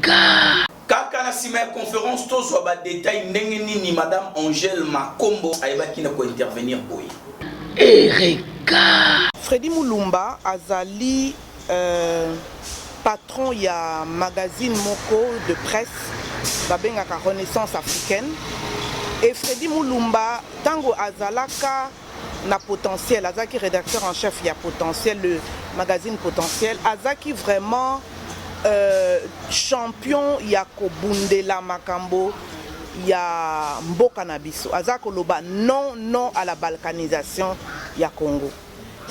Kaa! Kaka na sima ya conference tozwa ba details ndenge nini madame Angèle Makombo ayebaki na ko intervenir boye. Ereka! Freddy Mulumba azali patron ya magazine moko de presse babengaka Renaissance Africaine et Freddy Mulumba tango azalaka na potentiel azalaki rédacteur en chef ya potentiel le magazine potentiel azalaki vraiment euh, champion ya kobundela makambo ya mboka na biso aza koloba non non à la balkanisation ya congo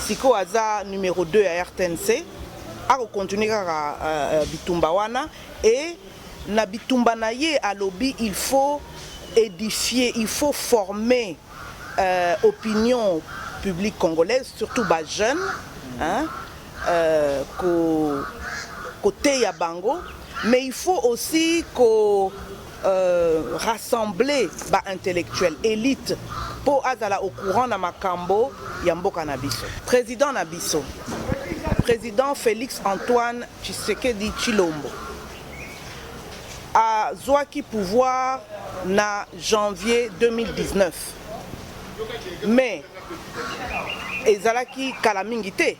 sikoyo aza numero 2 ya rtnc akokontinue kaka uh, bitumba wana e na bitumba na ye alobi il faut édifier il faut former Euh opinion publique congolaise surtout ba jeune hein euh ko koteya bango mais il faut aussi ko euh, rassembler ba intellectuels elite mpo azala au courant na makambo ya mboka na biso. President na biso, President Felix Antoine Tshisekedi Tshilombo Azuaki pouvoir na janvier 2019 mais ezalaki kala mingi te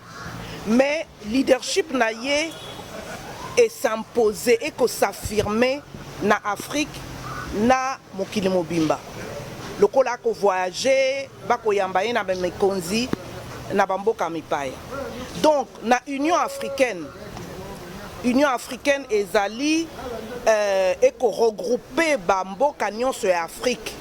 mais leadership na ye e s'imposer et ko s'affirmer na Afrique na mokili mobimba lokola ako voyager ba ko yamba ye na ba mikonzi na ba mboka mipaya donc na Union africaine Union africaine ezali euh, eko regroupe ba mboka nyonso ya Afrique.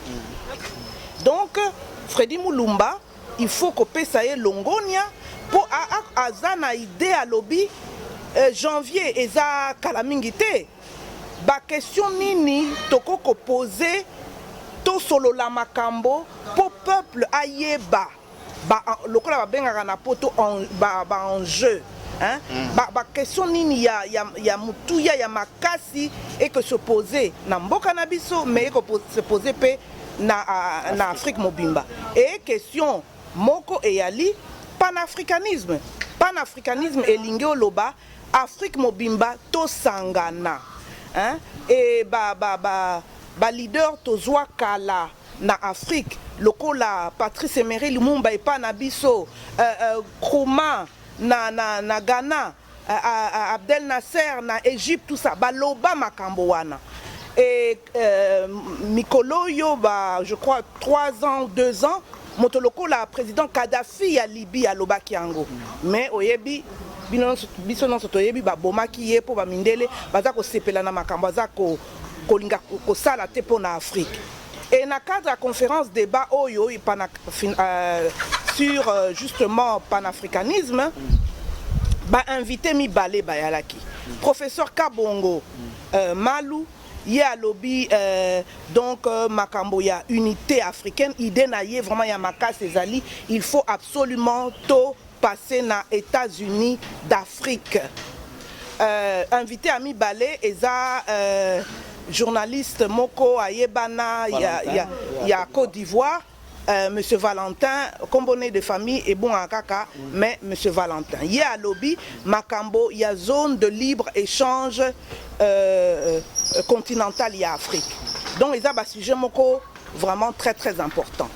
Donc Freddy Mulumba il faut kopesa ye longonia mpo aza na idee alobi euh, janvier eza kala mingi te bakestion nini tokoki kopose tosolola makambo mpo peuple ayeba ba lokola babengaka na poto ba, ba enjeu hein? Mm. ba, ba question nini ya, ya, ya motuya ya makasi eke se pose na mboka na biso me eke se pose mpe na, uh, na afrique mobimba e question moko eyali panafricanisme panafricanisme elingi oloba afrique mobimba tosangana hein? e ba, ba, ba, ba leader tozwa kala na Afrique lokola Patrice Emery Lumumba epa na biso uh, uh, Nkrumah na, na, na Ghana uh, uh, Abdel Nasser na Egypte tout ça baloba makambo wana et euh, mikolo oyo ba je crois 3 ans 2 ans moto lokola président Kadhafi ya Libye alobaki yango mais oyebi biso nyonso toyebi babomaki ye mpo bamindele baza kosepela na makambo aza ko kolinga kosala te mpo na Afrique. Et na cadre ya conférence débat oyo ipana, euh, sur euh, justement panafricanisme ba invité mibale bayalaki professeur Kabongo euh, Malu ye alobi euh, donc euh, makambo ya unité africaine idée na ye vraiment ya makasi ezali il faut absolument to passe na etats unis d'afrique euh, invite ya mibale eza euh, journaliste moko ayebana ya, ya, ya côte d'ivoire Euh, monsieur valentin nkombo ne de famille ebongaka kaka mais monsieur valentin ye alobi makambo ya zone de libre échange euh, continentale ya afrique donc eza basujet moko Vraiment très très important.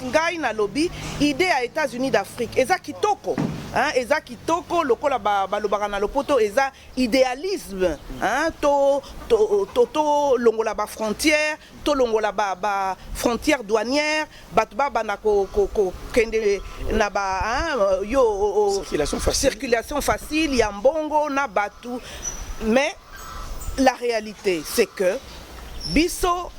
Ngai nalobi idee ya Etats-Unis d'Afrique eza kitoko hein, eza kitoko lokola balobaka na lopoto eza idealisme hein, to, to, to, to longola ba frontière to longola ba, ba frontière douanière bato babanda kokende na ba hein, yo circulation facile, circulation facile ya mbongo na bato mais La realite c'est que biso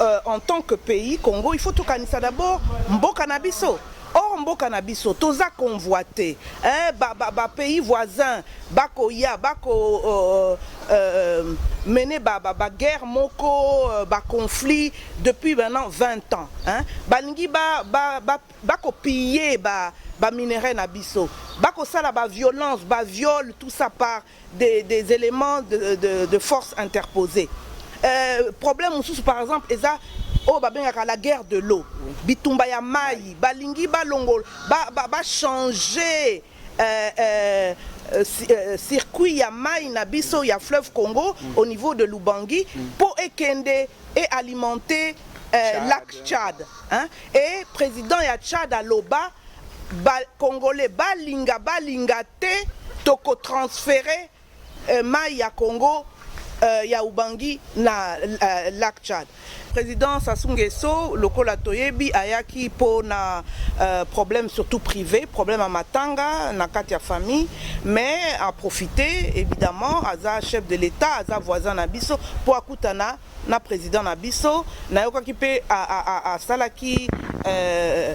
euh, en tant que pays Congo il faut tokanisa d'abord mboka na biso or mboka na biso toza convoite eh, ba, ba, ba pays voisin bakoya bako euh, euh, mener ba, ba, ba guerre moko euh, ba conflit depuis maintenant 20 ans hein? balingi ba, ba, ba, bakopiller ba, ba minerais na biso bakosala ba violence ba viol tout ça par des des elements de de de force interpose euh, problème mosusu par exemple eza oyo babengaka la guerre de l'eau bitumba ya mai balingi balongola ba, ba, ba changer euh, euh, euh, euh, circuit ya mai na biso ya fleuve Congo mm. au niveau de Lubangi mm. mpo ekende et alimenter euh, lac Tchad Hein et president ya Tchad aloba ba congolais balinga balinga te toko transfere euh, mayi ya Congo euh, ya Ubangi na euh, lac Tchad. President Sassou Nguesso lokola toyebi ayaki mpo na euh, problème surtout privé, problème ya matanga na kati ya famille, mais a profiter évidemment aza chef de l'État, aza voisin na biso mpo akutana na president na biso nayokaki mpe asalaki euh,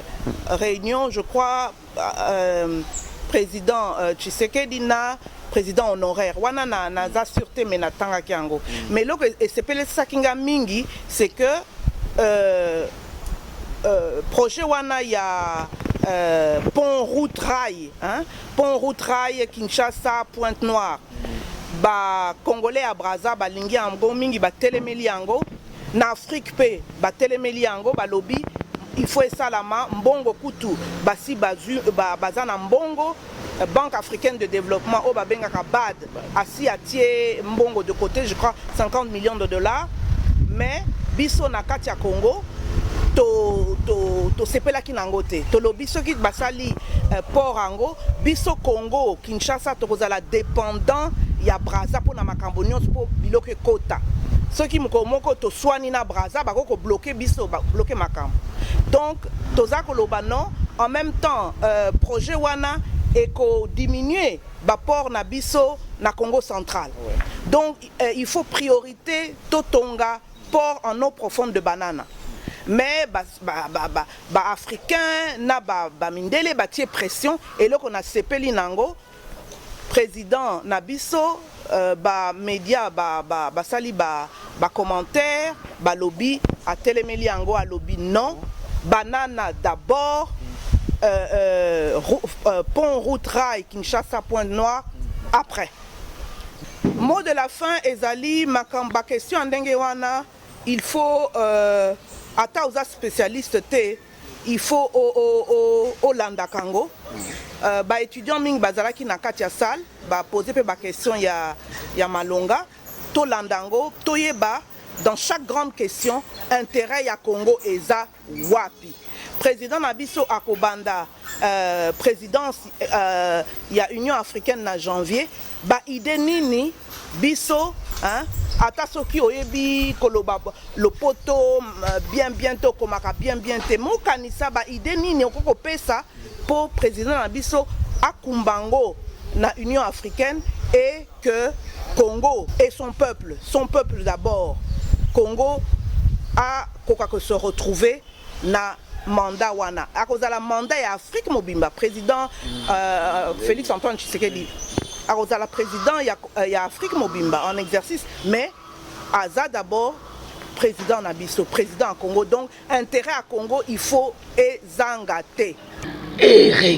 réunion je crois euh, président euh, tshisekedi na président honoraire wana na, naza sur te me natangaki yango mm. mais eloko e-, esepelisaki nga mingi c'est que euh, euh, projet wana ya euh, pont route rail hein? pont route rail kinshasa pointe noire Ba congolais ya Brazza balingi yango mingi, batelemeli yango na Afrique mpe batelemeli yango, balobi il faut esalama. Mbongo kutu basi bazwi, baza na mbongo. Banque africaine de developpement oyo babengaka BAD asi atie mbongo de cote, je crois 50 millions de dollars, mais biso na kati ya Congo tosepelaki na yango te tolobi soki basali euh, port yango biso congo kinshasa tokozala dépendant ya braza mpona makambo nyonso mpo biloko ekota soki mokolo moko toswani na braza bakoki kobloke biso babloke makambo donc toza koloba non en même temps euh, projet wana ekodiminue baport na biso na congo central donc euh, il faut priorité totonga port en eau profonde de banana mais ba, ba, ba, ba, ba africain na ba, ba mindele batie pression eloko na sepeli nango président na biso euh, ba média ba, ba, basali ba, ba commentaire balobi atelemeli yango alobi non banana d'abord euh, euh, euh, pont route rail kinshasa point noir après Mot de la fin ezali makambo ba question ya ndenge wana il faut euh, ata oza specialiste te il faut olandaka o, o, o yango euh, ba étudiants mingi bazalaki na kati ya salle ba poser pe ba question ya, ya malonga tolanda yango toyeba dans chaque grande question intérêt ya Congo eza wapi president na biso akobanda euh, présidence euh, ya union africaine na janvier baide nini biso hein? ata soki oyebi koloba lopoto euh, bien bien to okomaka bien bien te mokanisa baide nini okoki kopesa mpo président na biso akumba yango na union africaine e que Congo et son peuple, son peuple d'abord, Congo a koka que se retrouver na mandat wana akozala mandat ya Afrique mobimba président euh, Félix Antoine Tshisekedi akozala président ya, euh, ya Afrique mobimba en exercice mais aza d'abord président na biso président ya Congo donc intérêt ya Congo il faut ezanga te Eric